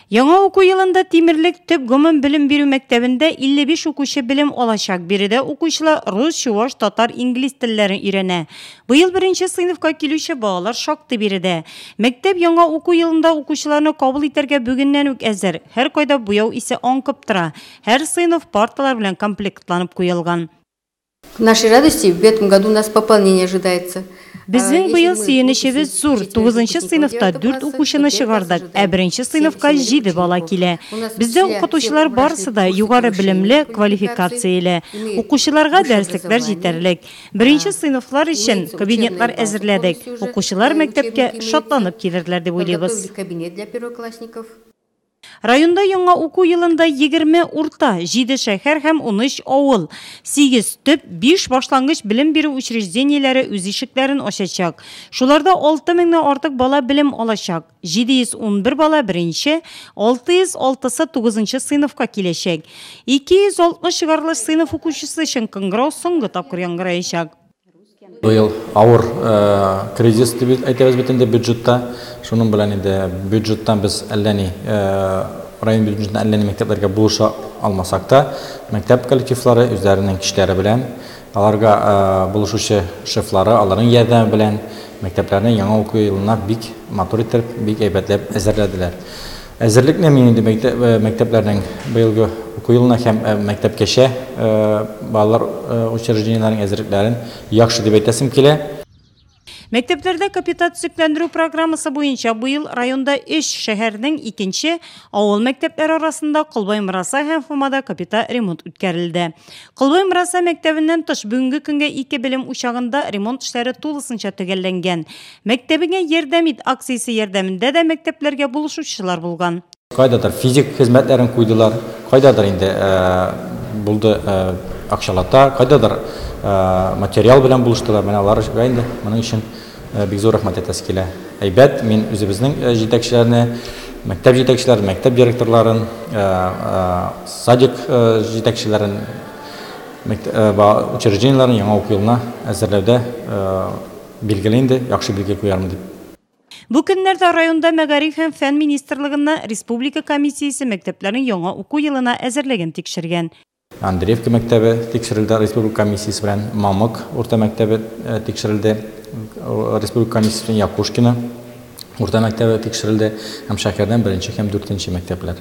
Яңа уку елында Тимерлек төп гомум белем бирү мәктәбендә 55 укучы белем алачак. Биредә укучылар рус, чуваш, татар, инглиз телләрен өйрәнә. Быел беренче сыйныфка килүче балалар шактый биредә. Мәктәп яңа уку елында укучыларны кабул итәргә бүгеннән үк әзер. Һәркайда буяу исе аңкып тора. Һәр сыйныф парталар белән комплектланып куелган. В нашей радости в этом году у нас пополнение ожидается. Безнең быел сөенечебез зур, тугызынчы сыйныфта дүрт укучыны чыгардык, ә беренче сыйныфка җиде бала килә. Бездә укытучылар барысы да югары белемле, квалификацияле. Укучыларга дәреслекләр җитәрлек. Беренче сыйныфлар өчен кабинетлар әзерләдек. Укучылар мәктәпкә шатланып килерләр дип уйлыйбыз. Районда яңа уку елында егерме урта, җиде шәһәр һәм унөч авыл, сигез төп, биш башлангыч белем бирү учреждениеләре үз ишекләрен ачачак. Шуларда алты меңнән артык бала белем алачак. 711 бала беренче, 606 сы тугызынчы сыйныфка киләчәк. 260 чыгарылыш сыйныф укучысы өчен кыңгырау соңгы тапкыр яңгыраячак. Быел авыр кризис дип әйтәбез бит инде бюджетта. Шуның белән инде бюджеттан без әллә ни район бюджетына әллә ни мәктәпләргә булыша алмасак та, мәктәп коллективлары үзләренең көчләре белән, аларга булышучы шефлары, аларның ярдәме белән мәктәпләрне яңа уку елына бик матур итеп, бик әйбәтләп әзерләделәр. Әзерлекне мин инде мәктәпләрнең быелгы уку елына һәм мәктәпкәчә балалар учреждениеләренең әзерлекләрен яхшы дип әйтәсем килә. Мәктәпләрдә капиталь төзекләндерү программасы буенча быел районда өч шәһәрнең икенче, авыл мәктәпләре арасында Колбай Мыраса һәм Фомада капиталь ремонт үткәрелде. Колбай Мыраса мәктәбеннән тыш бүгенге көнгә ике белем учагында ремонт эшләре тулысынча төгәлләнгән. Мәктәбеңә ярдәм ит акциясе ярдәмендә дә мәктәпләргә булышучылар булган. Кайдадыр физик хезмәтләрен куйдылар, кайдадыр инде булды акчалата, кайдадыр материал белән булыштылар. Менә аларга инде моның өчен бик зур рәхмәт әйтәсе килә. Әйбәт, мин үзебезнең җитәкчеләрне, мәктәп җитәкчеләрен, мәктәп директорларын, садик җитәкчеләрен, учреждениеләрен яңа уку елына әзерләүдә Билгеле инде, яхшы билге куярмын дип. Бу көннәрдә районда мәгариф һәм фән министрлыгында республика комиссиясе мәктәпләрнең яңа уку елына әзерлеген тикшергән. Андреевка мәктәбе тикшерелде республика комиссиясе белән, Мамык урта мәктәбе тикшерелде республика комиссиясе белән, Якушкино урта мәктәбе тикшерелде һәм шәһәрдән беренче һәм дүртенче мәктәпләр.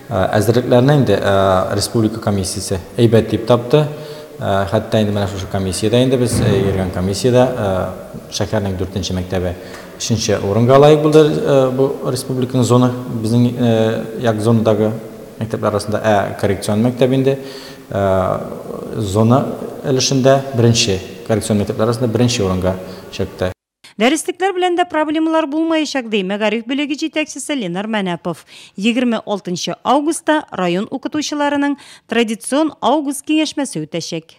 Ә, Әзерлекләрне инде ә, республика комиссиясе әйбәт дип тапты. Ә, Хәтта инде менә шушы комиссиядә инде без ә, йөргән комиссиядә ә, шәһәрнең дүртенче мәктәбе өченче урынга лаек булды ә, бу республиканың зона безнең ә, як зонадагы мәктәпләр арасында ә коррекцион мәктәп инде ә, зона өлешендә беренче коррекцион мәктәпләр арасында беренче урынга чыкты. Дәреслекләр белән дә проблемалар булмаячак, ди мәгариф бүлеге җитәкчесе Ленар Мәнәпов. Егерме алтынчы августта район укытучыларының традицион август киңәшмәсе үтәчәк.